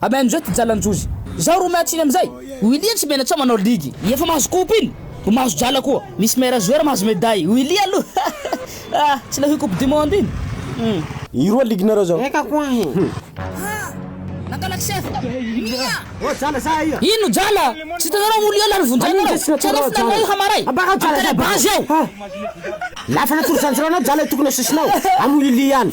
Amen izao ty jalanjojy. Zaho ro miatsiny amizay. Willy tsy menatsa manao ligy. Efa mahazo coupe iny. Ho mahazo jala koa. Misy meilleur joueur mahazo medaille. Willy aloha ah tsy leo coupe du monde iny. Hum. I roa ligue nareo zao. Eka koa he. Hum. Ino jala? Tsy hitanareo moa liona ny vonjenareo? Tsy hanao finarina io hamaray. Am tele base ao. Lafana tory zanjirao anao jala tokony asosonao am willy ihany.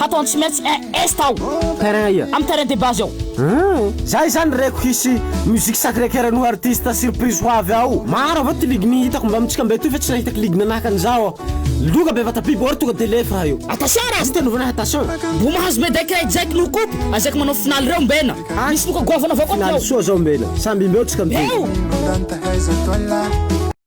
Hatao any tsy maintsy un est ao. Terrain ia? Amin'ny terrain de base ao. Hum, zay zany reko hisy musique sacré coeur no artiste surprise ho avy ao. Maro avao ty ligne hitako mba amintsika mba etoy fa tsy nahita ligne nanahaka an'izao aho. Loka bevata biby or tonga de lefy raha io. Attention raha Misy tenovana attention. Mbo mahazo medaille kay Jack no coop azaky manao finaly reo mbena Misy loka goavana avao koa ty ao. Finaly soa zao mbena. Samby mbeo tsika mitohy. Eo!